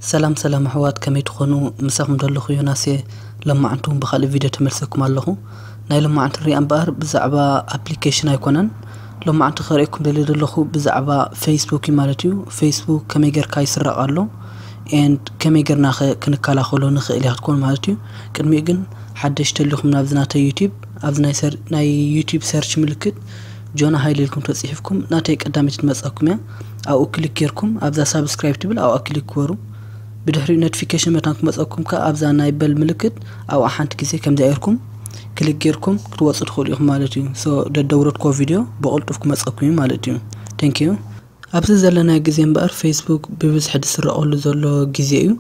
ሰላም ሰላም ኣሕዋት ከመይ ትኾኑ ምሳኹም ደለኹ ዮናስ እየ ለማዓንቲ ውን ብኻልእ ቪድዮ ተመልሰኩም ኣለኹ ናይ ለማዓንቲ ሪኣ እምበኣር ብዛዕባ ኣፕሊከሽን ኣይኮነን ለማዓንቲ ከርእየኩም ደልየ ደለኹ ብዛዕባ ፈይስቡክ እዩ ማለት እዩ ፈይስቡክ ከመይ ገርካ ይስረቕ ኣሎ ኤንድ ከመይ ገርና ከ ክንከላኸሎ ንኽእል እያ ክትኮኑ ማለት እዩ ቅድሚኡ ግን ሓደሽ ተሊኹም ናብዚ ናተይ ዩቲብ ኣብዚ ናይ ዩቲብ ሰርች ምልክት ጆና ሃይለ ኢልኩም ተጽሒፍኩም ናተይ ቀዳመይቲ ትመጻኩም እያ ኣብኡ ክሊክ ጌርኩም ኣብዛ ሳብስክራይብ ትብል ኣብኣ ክሊክ ግበሩ ብድሕሪኡ ኖቲፊኬሽን መታን ክመጸኩም ከኣ ኣብዛ ናይ በል ምልክት ኣብኣ ሓንቲ ግዜ ከምዚኣ ጌርኩም ክሊክ ጌርኩም ክትወጹ ትኽእሉ ኢኹም ማለት እዩ ሶ ደደውረድኮ ቪድዮ ብቕልጡፍ ክመጸኩም እዩ ማለት እዩ ቴንክ ዩ ኣብዚ ዘለና ግዜ እምበኣር ፌስቡክ ብብዝሒ ዝስረቐሉ ዘሎ ግዜ እዩ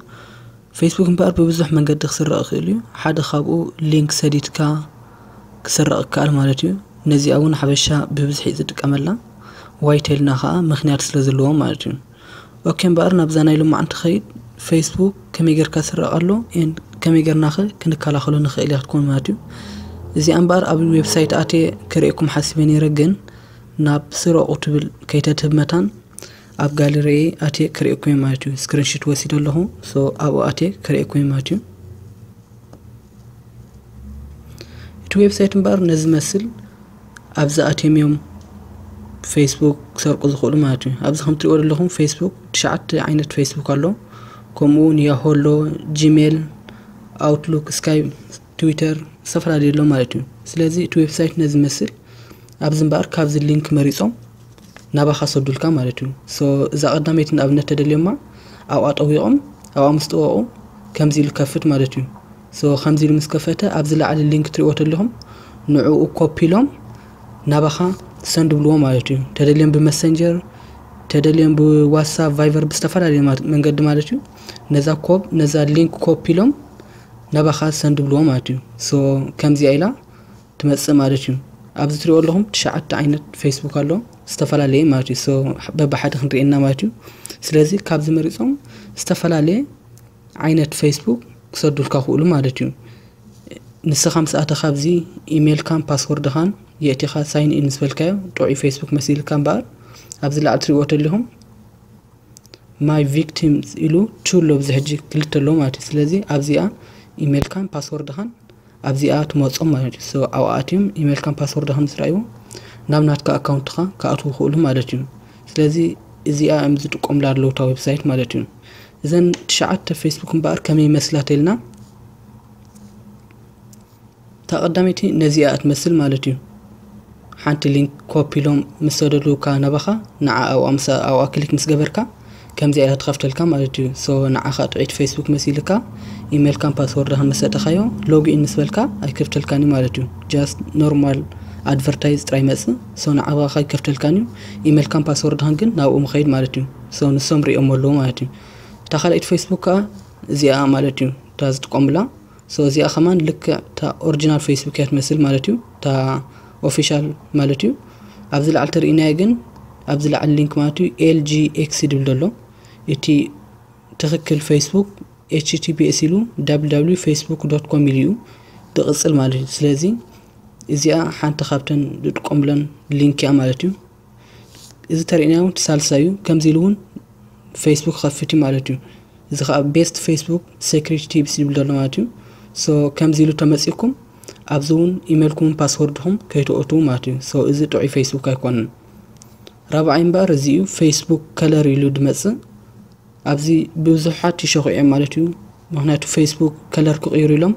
ፌስቡክ እምበኣር ብብዙሕ መንገዲ ክስረቕ ይኽእል እዩ ሓደ ካብኡ ሊንክ ሰዲድካ ክስረቕ ይከኣል ማለት እዩ። ነዚኣ እውን ሓበሻ ብብዝሒ እዩ ዝጥቀመላ። ዋይ ተልና ከዓ ምክንያት ስለ ዘለዎም ማለት እዩ። ኦኬ እምበኣር ናብዛ ናይ ሎማዕ እንትኸይድ ፌስቡክ ከመይ ጌርካ ዝስረቕ ኣሎ ኤን ከመይ ጌርና ኸ ክንከላኸሎ ንኽእል እያ ክትኮን ማለት እዩ። እዚኣ እምበኣር ኣብ ዌብሳይት ኣትየ ክርእየኩም ሓሲበ ነይረ ግን ናብ ስረቑ ትብል ከይተትህብ መታን ኣብ ጋለሪየ ኣትየ ክርእየኩም እየ ማለት እዩ። ስክሪንሽት ወሲደ ኣለኹ ሶ ኣብኡ ኣትየ ክርእየኩም እየ ማለት እዩ። እቲ ዌብሳይት እምበኣር ነዚ መስል ኣብዚ ኣትዮም እዮም ፌስቡክ ክሰርቁ ዝኽእሉ ማለት እዩ ኣብዚ ከም ትሪእዎ ዘለኹም ፌስቡክ ትሽዓተ ዓይነት ፌስቡክ ኣሎ ከምኡ እውን ያሆ ኣሎ ጂሜል ኣውትሉክ ስካይ ትዊተር ዝተፈላለዩ ኣሎ ማለት እዩ ስለዚ እቲ ዌብሳይት ነዚ መስል ኣብዚ እምበኣር ካብዚ ሊንክ መሪፆም ናባኻ ሰዱልካ ማለት እዩ so እዛ ቀዳመይቲ ንኣብነት ተደልዮማ ኣብኣ ጠዊቖም ኣብኣ ምስ ጠወቑ ከምዚ ኢሉ ከፍት ማለት እዩ so ከምዚ ኢሉ ምስ ከፈተ ኣብዚ ላዕሊ ሊንክ ትሪእዎ ተለኹም ንዕኡ ኮፒ ኢሎም ናባኻ ሰንድ ብልዎ ማለት እዩ ተደልዮም ብመሰንጀር ተደልዮም ብዋትሳፕ ቫይቨር ብዝተፈላለዩ መንገዲ ማለት እዩ ነዛ ኮብ ነዛ ሊንክ ኮፒ ኢሎም ናባኻ ሰንድ ብልዎ ማለት እዩ ሶ ከምዚኣ ኢላ ትመጽእ ማለት እዩ ኣብዚ ትሪኦ ኣለኹም ትሽዓተ ዓይነት ፌስቡክ ኣሎ ዝተፈላለየ ማለት እዩ በብሓደ ክንሪኤና ማለት እዩ ስለዚ ካብዚ መሪፆም ዝተፈላለየ ዓይነት ፌስቡክ ክሰዱልካ ክእሉ ማለት እዩ ንስኻ ምስ ኣተኻ ኣብዚ ኢሜይልካን ፓስወርድኻን የእቲኻ ሳይን ኢን ዝበልካዮ ጥዑይ ፌስቡክ መሲልካ እምበኣር ኣብዚ ላዕሊ ትሪእዎ ተለኹም ማይ ቪክቲም ኢሉ ቹ ኣሎ ብዚ ሕጂ ክልተ ኣሎ ማለት እዩ ስለዚ ኣብዚኣ ኢሜይልካን ፓስወርድኻን ኣብዚኣ ትመጾም ማለት እዩ so ኣብኣ ኣትዮም ኢሜል ካን ፓስወርድካ ምስ ረኣይዎ ናብ ናትካ ኣካውንትካ ክኣትዉ ይኽእሉ ማለት እዩ ስለዚ እዚኣ እዮም ዝጥቀሙላ ኣለዉ እታ ዌብሳይት ማለት እዩ እዘን ትሽዓተ ፌስቡክ እምበኣር ከመይ ይመስላ ተልና እታ ቀዳመይቲ ነዚኣ እትመስል ማለት እዩ ሓንቲ ሊንክ ኮፒ ኢሎም ምስ ሰደዱካ ናባኻ ንዓ ኣብኣ ምስ ኣብኣ ክሊክ ምስ ገበርካ ከምዚኣ ኢላ ትኸፍተልካ ማለት እዩ ሶ ንዓኻ ጥዒት ፌስቡክ መሲልካ ኢሜልካን ፓስወርድኻን ምስ ሰጠኻዮ ሎግኢን ምስ በልካ ኣይከፍተልካን እዩ ማለት እዩ ጃስት ኖርማል ኣድቨርታይዝ ጥራይ መጽእ ሶ ንዓባኻ ኣይከፍተልካን እዩ ኢሜልካን ፓስወርድኻን ግን ናብኡ ምኸይድ ማለት እዩ ሶ ንሶም ሪኦም ኣለዎ ማለት እዩ እታ ካልኣይቲ ፌስቡክ ከዓ እዚኣ ማለት እዩ እታ ዝጥቀሙላ ሶ እዚኣ ከማን ልክዕ እታ ኦሪጂናል ፌስቡክ እያ ትመስል ማለት እዩ እታ ኦፊሻል ማለት እዩ ኣብዚ ላዕሊ ተርእናዮ ግን ኣብዚ ላዕሊ ሊንክ ማለት እዩ ኤልጂኤክስ ዝብል ዘሎ እቲ ትክክል ፌስቡክ ኤችቲፒኤስ ኢሉ ww ፌስቡክ ዶት ኮም ኢሉ እዩ ዝቕፅል ማለት እዩ ስለዚ እዚኣ ሓንቲ ካብተን ዝጥቀሙለን ሊንክ እያ ማለት እዩ እዚ ተርእና እውን ሳልሳይ እዩ ከምዚ ኢሉ እውን ፌስቡክ ክኸፍት እዩ ማለት እዩ እዚ ከዓ ቤስት ፌስቡክ ሴክሪቲ ቲፕስ ይብል ዘሎ ማለት እዩ ሶ ከምዚ ኢሉ ተመፂኩም ኣብዚ እውን ኢሜልኩምን ፓስወርድኹም ከይተኦትዉ ማለት እዩ ሶ እዚ ጥዑይ ፌስቡክ ኣይኮነን ራብዓይ እምበኣር እዚ እዩ ፌስቡክ ከለር ኢሉ ድመፅእ ኣብዚ ብዙሓት ይሸኹ ኢዮም ማለት ኢዩ ምኽንያቱ ፌስቡክ ከለር ክቕይሩ ኢሎም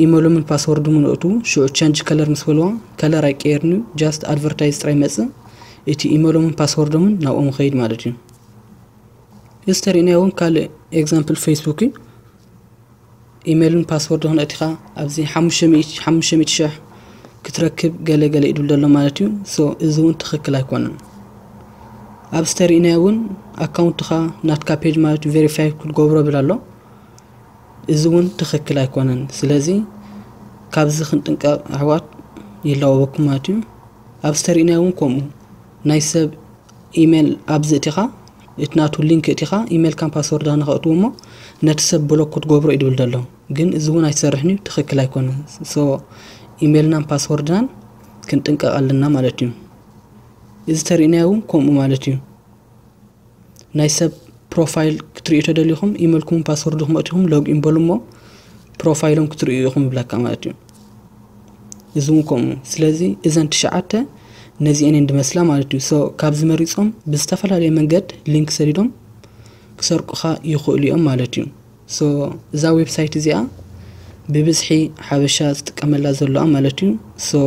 ኢመሎምን ፓስወርዶምን ኣእትዉ ሽዑ ቸንጅ ከለር ምስ በልዋ ከለር ኣይቀየርን ኢዩ ጃስት ኣድቨርታይዝ ጥራይ ይመጽእ እቲ ኢመሎምን ፓስወርዶምን ናብኦም ይኸይድ ማለት ኢዩ እዚ ተሪእናዮ እውን ካልእ ኤግዛምፕል ፌስቡክ ኢዩ ኢመልን ፓስወርድ ክንእቲኻ ኣብዚ ሓሙሽተ ሚእቲ ሓሙሽተ ሚእቲ ሽሕ ክትረክብ ገለ ገለ ኢሉ ዘሎ ማለት እዩ ሶ እዚ እውን ትኽክል ኣይኮነን ኣብ ዝተርእናዮ እውን ኣካውንትኻ ናትካ ፔጅ ማለት እዩ ቬሪፋይ ክትገብሮ ብል ኣሎ እዚ እውን ትኽክል ኣይኮነን ስለዚ ካብዚ ክንጥንቀቕ ኣሕዋት ይላወበኩም ማለት እዩ ኣብ ዝተርእናዮ እውን ከምኡ ናይ ሰብ ኢሜል ኣብዚ እቲኻ እቲ ናቱ ሊንክ እቲኻ ኢመልካን ፓስወርድካ ንኸእትዉ እሞ ነቲ ሰብ ብሎክ ክትገብሮ እዩ ድብል ደሎ ግን እዚ እውን ኣይሰርሕን እዩ ትኽክል ኣይኮነን ሶ ኢመልናን ፓስወርድናን ክንጥንቀቕ ኣለና ማለት እዩ እዚ ተርእናዮ እውን ከምኡ ማለት እዩ ናይ ሰብ ፕሮፋይል ክትርእዩ ተደሊኹም ኢመልኩም ፓስወርድኩም ኣእቲኹም ሎግ ኢን በሉ እሞ ፕሮፋይሎም ክትርእዩ ኢኹም ይብለካ ማለት እዩ እዚ እውን ከምኡ ስለዚ እዘን ትሽዓተ ነዚአን እየን ድመስላ ማለት እዩ ሶ ካብዚ መሪፆም ብዝተፈላለየ መንገድ ሊንክ ሰዲዶም ክሰርቁኻ ይኽእሉ እዮም ማለት እዩ ሶ እዛ ዌብሳይት እዚኣ ብብዝሒ ሓበሻ ዝጥቀመላ ዘለዋ ማለት እዩ ሶ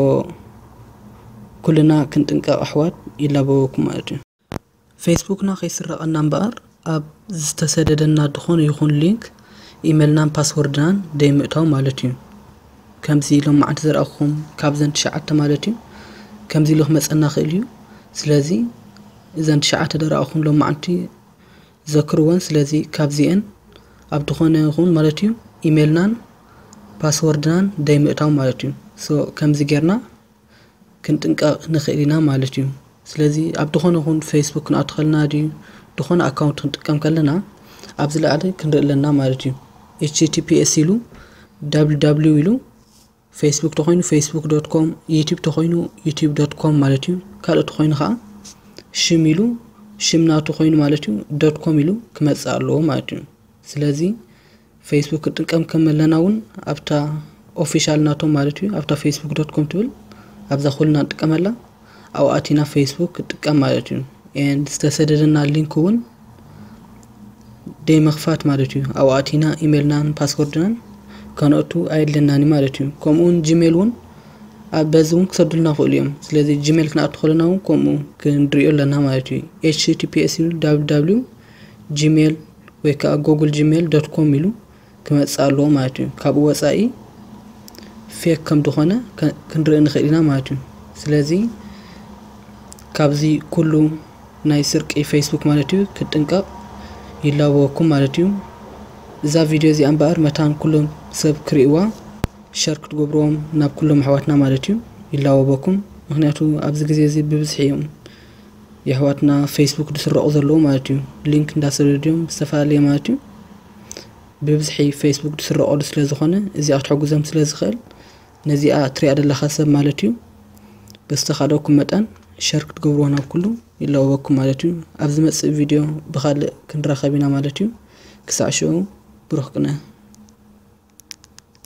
ኩልና ክንጥንቀቕ ኣሕዋት ይላበወኩም ማለት እዩ ፌስቡክና ከይስረቐና እምበኣር ኣብ ዝተሰደደና ድኾነ ይኹን ሊንክ ኢመልናን ፓስወርድናን ደይምእታው ማለት እዩ። ከምዚ ሎም መዓንቲ ዘርኣኹኹም ካብዘን ትሽዓተ ማለት እዩ ከምዚ ኢሉ ክመጸና ክእል እዩ። ስለዚ እዘን ትሽዓተ ደርኣኹም ሎም መዓንቲ ዘክርወን ስለዚ ካብዚኤን ኣብ ድኾነ ይኹን ማለት እዩ ኢመልናን ፓስወርድናን ደይምእታው ማለት እዩ። ሶ ከምዚ ጌርና ክንጥንቀቅ ንክእል ኢና ማለት እዩ ስለዚ ኣብ ድኮነ ይኩን ፈይስቡክ ክንኣቱ ከለና ድዩ ድኮነ ኣካውንት ክንጥቀም ከለና ኣብ ዝለዓለ ክንርኢ ኣለና ማለት እዩ https ኢሉ ww ኢሉ ፈይስቡክ ተኮይኑ ፈይስቡክ ዶት ኮም ዩቲብ ተኮይኑ ዩቲብ ዶት ኮም ማለት እዩ ካልእ ተኮይኑ ከዓ ሽም ኢሉ ሽም ናቱ ኮይኑ ማለት እዩ ዶት ኮም ኢሉ ክመፅእ ኣለዎ ማለት እዩ ስለዚ ፌስቡክ ክንጥቀም ከመለና እውን ኣብታ ኦፊሻል ናቶም ማለት እዩ ኣብታ ፌስቡክ ዶት ኮም ትብል ኣብዛ ኩልና ንጥቀመላ ኣብኡ ኣቲና ፌስቡክ ክጥቀም ማለት እዩ ኤንድ ዝተሰደደና ሊንክ እውን ደይ መኽፋት ማለት እዩ ኣብኡ ኣቲና ኢሜልናን ፓስወርድናን ከነእቱ ኣየድለናን እዩ ማለት እዩ ከምኡውን ጂሜል እውን ኣብ በዚ እውን ክሰዱልና ክእሉ እዮም ስለዚ ጂሜል ክንኣቱ ከለና እውን ከምኡ ክንሪኦ ኣለና ማለት እዩ ኤችቲፒኤስ ዩ ዳብሊው ዳብሊው ጂሜል ወይ ከዓ ጎግል ጂሜል ዶት ኮም ኢሉ ክመፅእ ኣለዎ ማለት እዩ ካብኡ ወፃኢ ፌክ ከም ድኾነ ክንርኢ ንኽእል ኢና ማለት እዩ ስለዚ ካብዚ ኩሉ ናይ ስርቂ ፌስቡክ ማለት እዩ ክጥንቀቕ ይላበወኩም ማለት እዩ እዛ ቪድዮ እዚኣ እምበኣር መታን ኩሎም ሰብ ክርእዋ ሸር ክትገብርዎም ናብ ኩሎም ኣሕዋትና ማለት እዩ ይላወበኩም ምክንያቱ ኣብዚ ግዜ እዚ ብብዝሒ እዮም የሕዋትና ፌስቡክ ድስረቁ ዘለዉ ማለት እዩ ሊንክ እንዳሰደዱ ድዮም ዝተፈላለየ ማለት እዩ ብብዝሒ ፌስቡክ ድስረቀሉ ስለ ዝኾነ እዚኣ ክትሕግዞም ስለ ዝኽእል ነዚኣ ትሪኣ ዘለኻ ሰብ ማለት እዩ በዝተኻለኩም መጠን ሸር ክትገብርዎ ናብ ኩሉ ይለወበኩም ማለት እዩ ኣብ ዝመጽእ ቪድዮ ብኻልእ ክንራኸብ ኢና ማለት እዩ ክሳዕ ሽዑ ብሩኽ ቅነ